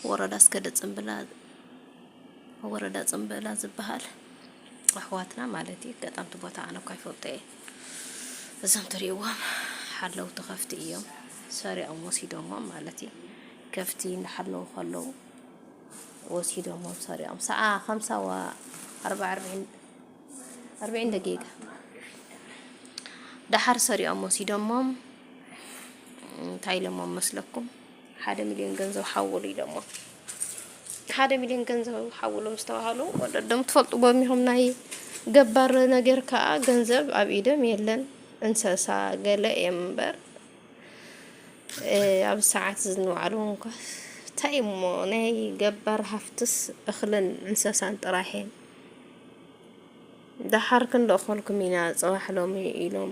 ወረዳ ኣስገደ ጽምብላ ወረዳ ጽምብላ ዝበሃል ኣሕዋትና ማለት እዩ። ገጣምቲ ቦታ ኣነ እኳ ይፈልጦ እየ። እዞም ትሪእዎም ሓለውቲ ከፍቲ እዮም። ሰሪዖም ወሲዶሞም ማለት እዩ። ከፍቲ እናሓለዉ ከለዉ ወሲዶሞም ሰሪዖም ሰዓ ከምሳ ዋ ኣርባ ኣርብዒን ደቂቃ ደሓር ሰሪዖም ወሲዶሞም እንታይ ኢሎሞም መስለኩም? ሓደ ሚልዮን ገንዘብ ሓውሉ ኢሎሞ ሓደ ሚልዮን ገንዘብ ሓውሉ ምስ ተባሃሉ ወለዶም ትፈልጥዎ እኒሆም ናይ ገባር ነገር ከዓ ገንዘብ ኣብ ኢዶም የለን እንሰሳ ገለ እዮም እምበር ኣብ ሰዓት ዝንባዕሉ እንኳ እንታይ እሞ ናይ ገባር ሃፍትስ እኽልን እንሰሳን ጥራሕ እዮም። ደሓር ክንልእኸልኩም ኢና ፅባሕ ሎሚ ኢሎም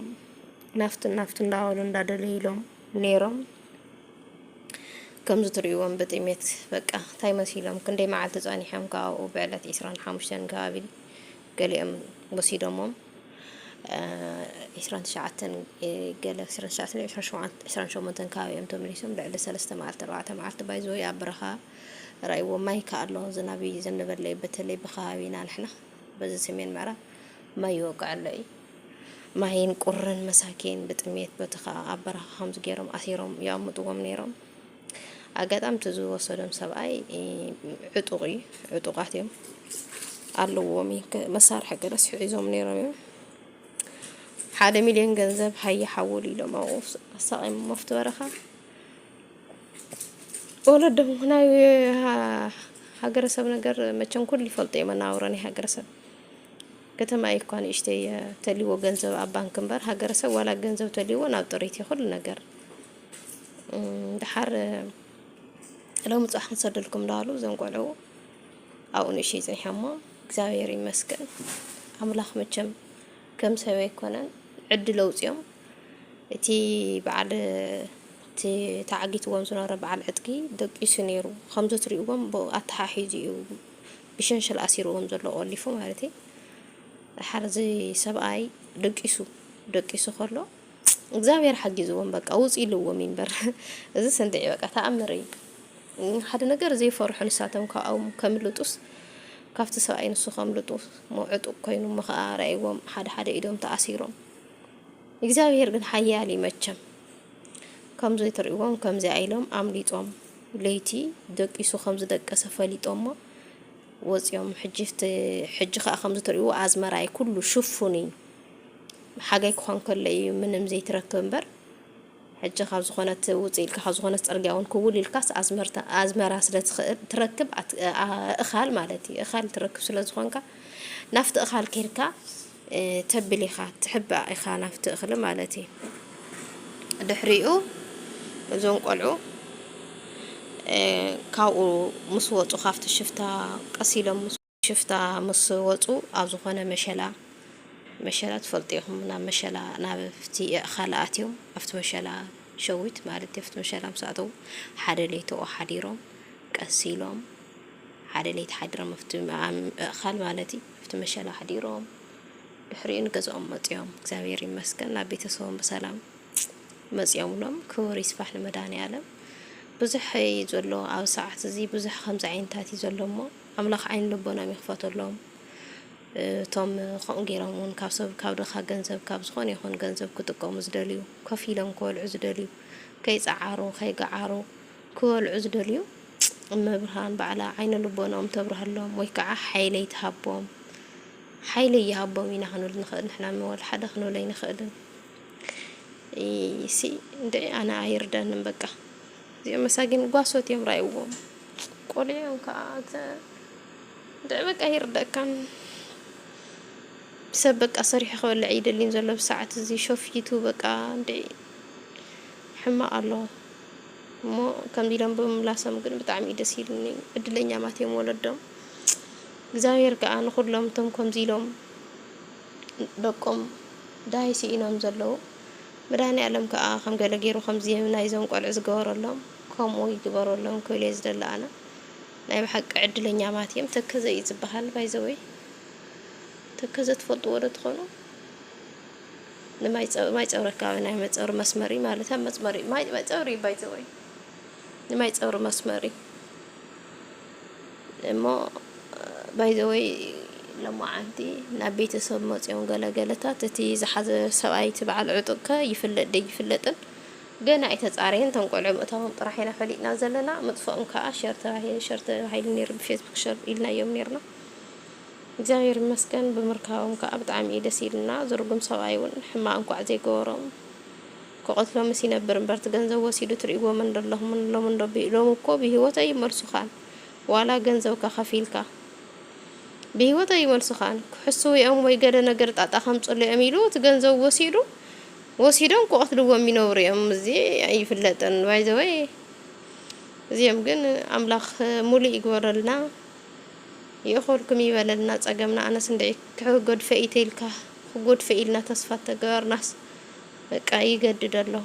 ናፍቱን ናፍቱን እንዳበሉ እንዳደለይሎም ነይሮም። ከምዚ ትርእይዎም ብጥሜት በቃ እንታይ መሲሎም ክንደይ መዓልቲ ጸኒሖም ከ ኣብኡ ብዕለት 25 ከባቢ ገሊኦም ወሲዶሞም 29 ገለ 28 ከባቢ እዮም ተመሊሶም ልዕሊ 3 መዓልቲ 4 መዓልቲ ባይዘወይ ኣብ በረኻ ራእይዎ ማይ ከ ኣሎ ዝናብ ይዘንበለይ በተለይ ብከባቢና ንሕና በዚ ሰሜን ምዕራብ ማይ ይወቅዕ ኣሎ እዩ ማይን ቁርን መሳኪን ብጥሜት በቲ ከዓ ኣብ በረኻ ከምዚ ገይሮም ኣሲሮም ይቐምጥዎም ነይሮም ኣጋጣሚ እቲ ዝወሰዶም ሰብኣይ ዕጡቕ እዩ ዕጡቓት እዮም ኣለዎም መሳርሒ ገለስ ሒዞም ነይሮም እዮም ሓደ ሚሊዮን ገንዘብ ሃየ ሓውሉ ኢሎም ኣብኡ ኣሳቒም መፍቲ በረኻ ወለዶ ናይ ሃገረሰብ ነገር መቸም ኩሉ ይፈልጦ እየ መነባብሮ ናይ ሃገረሰብ ከተማ እየ እኳ ንእሽተይ እየ ተልዎ ገንዘብ ኣብ ባንክ እምበር ሃገረሰብ ዋላ ገንዘብ ተልዎ ናብ ጥሪት እዩ ኩሉ ነገር ድሓር ሎሚ ፅባሕ ክንሰደልኩም ዳሉ እዞም ቆልዑ ኣብኡ ንእሽተይ ፀኒሖሞ እግዚኣብሔር ይመስገን ኣምላክ መቸም ከም ሰብ ኣይኮነን ዕድል ኣውጺኦም እቲ በዓል እቲ ተዓጊትዎም ዝነበረ በዓል ዕጥቂ ደቂሱ ኔሩ ከምዚ ትሪእዎም ብኡ ኣተሓሒዙ እዩ ብሸንሸል ኣሲርዎም ዘሎ ቆሊፉ ማለት እዩ። ደሓር እዚ ሰብኣይ ደቂሱ ደቂሱ ከሎ እግዚኣብሔር ሓጊዝዎም በቃ ውጹ ኢልዎም እዩ እምበር እዝስ እንድዒ በቃ ተኣምር እዩ ሓደ ነገር ዘይፈርሑ ንሳቶም ካብኦም ከምልጡስ ካብቲ ሰብኣይ ንሱ ከምልጡ ዕጡቅ ኮይኑ እሞ ከዓ ረኣይዎም ሓደ ሓደ ኢዶም ተኣሲሮም እግዚኣብሔር ግን ሓያል እዩ መቸም ከምዚ ትርእዎም ከምዚ ኣይሎም ኣምሊጦም ለይቲ ደቂሱ ከም ዝደቀሰ ፈሊጦሞ ወፂኦም ሕጂ ሕጂ ከዓ ከም ዝትርእይዎ ኣዝመራይ ኩሉ ሽፉን እዩ ሓጋይ ክኾን ከሎ ኢዩ ምንም ዘይትረክብ እምበር ሕጂ ካብ ዝኾነት ውጽእ ኢልካ ካብ ዝኾነት ጽርግያ ውን ክውል ኢልካስ ኣዝመርታ ኣዝመራ ስለ ትኽእል ትረክብ ኣት እኻል ማለት ኢዩ እኻል ትረክብ ስለ ዝኾንካ ናፍቲ እኻል ኬድካ ተብል ኢኻ ትሕባእ ኢኻ ናፍቲ እኽሊ ማለት ኢዩ ድሕሪኡ እዞም ቆልዑ ካብኡ ምስ ወጹ ካብቲ ሽፍታ ቀስ ኢሎም ምስ ሽፍታ ምስ ወጹ ኣብ ዝኾነ መሸላ መሸላ ትፈልጡ ኢኹም ናብ መሸላ ናብፍቲ የእኻል ኣትዮም ኣብቲ መሸላ ሸዊት ማለት ኣብቲ መሸላ ምስ ኣተዉ ሓደ ለይቲ ኦ ሓዲሮም ቀስ ኢሎም ሓደ ለይቲ ሓዲሮም ኣብቲ እእኻል ማለት እዩ ኣብቲ መሸላ ሓዲሮም ድሕሪኡ ንገዝኦም መጽኦም እግዚኣብሔር ይመስገን ናብ ቤተሰቦም ብሰላም መጽኦምሎም ክቡር ይስፋሕ ንመድኃኔ ዓለም ብዙሕ እዩ ዘሎ ኣብ ሰዓት እዚ ብዙሕ ከምዚ ዓይነታት እዩ ዘሎ እሞ ኣምላኽ ዓይኒ ልቦናም ይኽፈተሎም እቶም ከምኡ ጌሮም ውን ካብ ሰብ ካብ ድኻ ገንዘብ ካብ ዝኾነ ይኹን ገንዘብ ክጥቀሙ ዝደልዩ ኮፍ ኢሎም ክበልዑ ዝደልዩ ከይጸዓሩ ከይገዓሩ ክበልዑ ዝደልዩ እመብርሃን ባዕላ ዓይነ ልቦናኦም ተብርሃሎም ወይ ከዓ ሓይለይ ትሃቦም ሓይሊ ይሃቦም ኢና ክንብል ንኽእል ንሕና ንወል ሓደ ክንብል ኣይንኽእልን ሲ እንድዒ ኣነ ኣይርዳንም በቃ እዚኦም መሳጊን ጓሶት እዮም ራይዎም ቆልዑ እዮም ከኣ ኣንተ ድዕ በቃ ኣይርደእካን ሰብ በቃ ሰሪሑ ክበልዕ ይደሊን ዘሎ ብሰዓት እዚ ሾፊቱ በቃ እንድዒ ሕማቅ ኣሎ እሞ ከምዚ ኢሎም ብምምላሶም ግን ብጣዕሚ እዩ ደስ ኢሉኒ ዕድለኛማት እዮም ወለዶም እግዚኣብሔር ከዓ ንኩሎም እቶም ከምዚ ኢሎም ደቆም ደሃይ ስኢኖም ዘለዉ መድሃኒኣለም ከኣ ከም ገለ ጌሩ ከምዚ ናይዞም ቆልዑ ዝገበረሎም ከምኡ ይግበረሎም ክብል እየ ዝደሊ ኣነ ናይ ብሓቂ ዕድለኛማት እዬም ተከዘ እዩ ዝብሃል ባይዘወይ ተከዘ ትፈልጥዎ ዶ ትኮኑ ንማይጸብሪ ማይጸብሪ ኣከባቢ ናይ ማይጸብሪ መስመር እዩ ማለት ኣብ መስመር እዩ ማይጸብሪ እዩ ባይዘወይ ንማይጸብሪ መስመር እዩ እሞ ባይ ዘ ወይ ሎማዓንቲ ናብ ቤተሰብ መጽዮም ገለ ገለታት እቲ ዝሓዘ ሰብኣይ እቲ በዓል ዕጡቅ ከ ይፍለጥ ደይፍለጥን ገና ኣይተጻረየን እቶም ቆልዑ ምእታዎም ጥራሕ ኢና ፈሊጥና ዘለና ምጥፍኦም ከኣ ሸር ተባሂሉ ሸር ተባሂሉ ኔሩ ብፌስቡክ ሸር ኢልናዮም ኔርና እግዚኣብሔር ይመስገን ብምርካቦም ከኣ ብጣዕሚ እዩ ደስ ኢሉና ዝርጉም ሰብኣይ ውን ሕማቅ እንኳዕ ዘይገበሮም ክቀትሎምስ ይነብር እምበር እቲ ገንዘብ ወሲዱ ትሪእዎ መን ዶ ኣለኹም ሎሚ እንዶ ሎሚ እኮ ብሂወት ኣይመልሱኻን ዋላ ገንዘብካ ከፊልካ ብሂወት ኣይመልሱኻን ክሕስዉ እዮም ወይ ገለ ነገር ጣጣ ከምፅሉ እዮም ኢሉ እቲ ገንዘብ ወሲዱ ወሲዶም ክቀትልዎም ይነብሩ እዮም እዚ ኣይፍለጥን ባይዘወይ እዚኦም ግን ኣምላኽ ሙሉእ ይግበረልና ይእኸልኩም ይበለልና ፀገምና ኣነስ እንድዒ ክሕገዱ ፈኢተ ኢልካ ክጎዱ ፈኢልና ተስፋ ተገበርናስ በቃ ይገድድ ኣሎ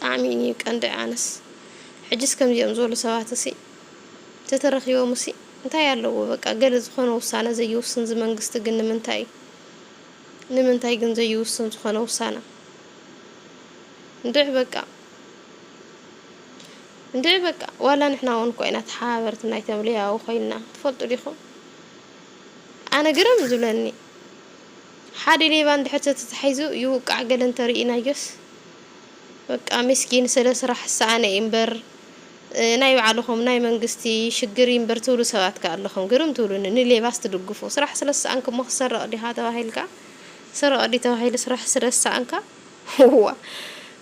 ጣዕሚ ን ቀንዲ ኣነስ ሕጅስ ከምዚኦም ዝበሉ ሰባትሲ ተተረኪቦምሲ እንታይ ኣለዎ በቃ ገለ ዝኮነ ውሳነ ዘይውስን እዚ መንግስቲ ግን ንምንታይ ንምንታይ ግን ዘይውስን ዝኮነ ውሳነ እንድዒ በቃ እንድዒ በቃ ዋላ ንሕና እውን እኮ ኢና ተሓባበርቲ ናይቶም ሌያዊ ኮይንና ትፈልጡ ዲኹም ኣነ ግርም ዝብለኒ ሓደ ሌባ እንድሕር ተተታሒዙ ይውቃዕ ገለ እንተሪኢናዮስ በቃ ሚስኪን ስለ ስራሕ ዝሰኣነ እዩ እምበር ናይ ባዕልኹም ናይ መንግስቲ ሽግር እዩ እምበር ትብሉ ሰባት ከ ኣለኹም ግርም ትብሉኒ ንሌባስ ትድግፉ ስራሕ ስለ ዝሰኣንክ እሞ ክትሰርቕ ዲኻ ተባሂልካ ስረቕ ድዩ ተባሂሉ ስራሕ ስለ ዝሰኣንካ ዋእ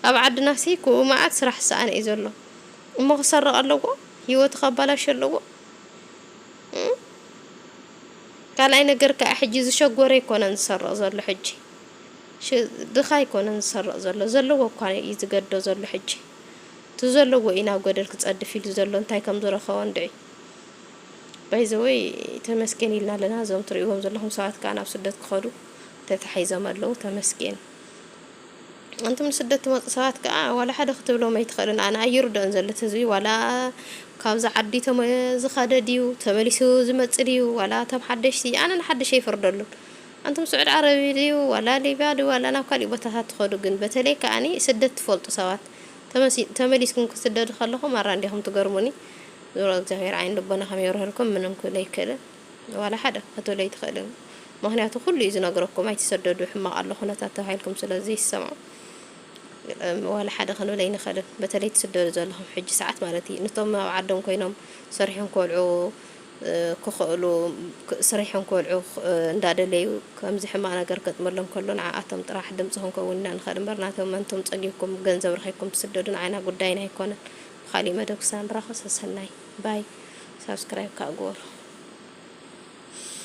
ኣብ ዓድናሲ እኮ መኣት ስራሕ ዝሰኣነ እዩ ዘሎ እሞ ክሰርቕ ኣለዎ ሂወቱ ከባላሹ ኣለዎ እም። ካልኣይ ነገር ክኣ ሕጂ ዝሸጎረ ኣይኮነን ዝሰርቕ ዘሎ ሕጂ ድኻ ኣይኮነን ዝሰርቕ ዘሎ ዘለዎ እኳ እዩ ዝገዶ ዘሎ ሕጂ እቲ ዘለዎ እዩ ናብ ገደል ክጸድፍ ኢሉ ዘሎ እንታይ ከም ዝረኸቦ እንድዒ ባይ ዘ ወይ ተመስገን ኢልና ኣለና እዞም ትርእይዎም ዘለኹም ሰባት ክኣ ናብ ስደት ክኸዱ ተታሒዞም ኣለዉ ተመስገን ኣንቱም ንስደት ትመጹ ሰባት ከኣ ዋላ ሓደ ክትብሎም ኣይትኽእልን ኣነ ኣይርድኦን ዘሎ እቲ ህዝቢ ዋላ ካብዛ ዓዲ ተመ ዝኸደ ድዩ ተመሊሱ ዝመጽእ ድዩ ዋላ እቶም ሓደሽቲ ኣነ ንሓድሽ ኣይፈርደሉን ኣንቱም ስዑድ ዓረቢ ድዩ ዋላ ሊብያ ድዩ ዋላ ናብ ካሊእ ቦታታት ትኸዱ ግን በተለይ ከኣኒ ስደት ትፈልጡ ሰባት ተመሲ ተመሊስኩም ክትስደዱ ከለኹም ማራ እንዲኹም ትገርሙኒ ዞሮ እግዚኣብሄር ዓይኒ ልቦናኹም የብርሀልኩም ምንም ክብል ኣይክእልን። ዋላ ሓደ ክትብሉ ኣይትኽእልን ምኽንያቱ ኩሉ እዩ ዝነግረኩም ኣይትሰደዱ ሕማቕ ኣሎ ኩነታት ተባሂልኩም ስለ ዘይሰምዑ ዋላ ሓደ ክንብል ኣይንኽእልን በተለይ ትስደዱ ዘለኹም ሕጂ ሰዓት ማለት እዩ ንቶም ኣብ ዓዶም ኮይኖም ሰሪሖም ክበልዑ ክኽእሉ ስሪሖም ክበልዑ እንዳደለዩ ከምዚ ሕማቕ ነገር ከጥመሎም ከሎ ንዓኣቶም ጥራሕ ድምፂ ክንከውን ኢና ንኽእል እምበር ናተመንቶም ፀጊብኩም ገንዘብ ረኺብኩም ትስደዱ ንዓና ጉዳይና ኣይኮነን ብኻሊእ መደብ ክሳብ ንራኸብ ሰሰናይ ባይ ሳብስክራይብ ካኣ ግበሩ።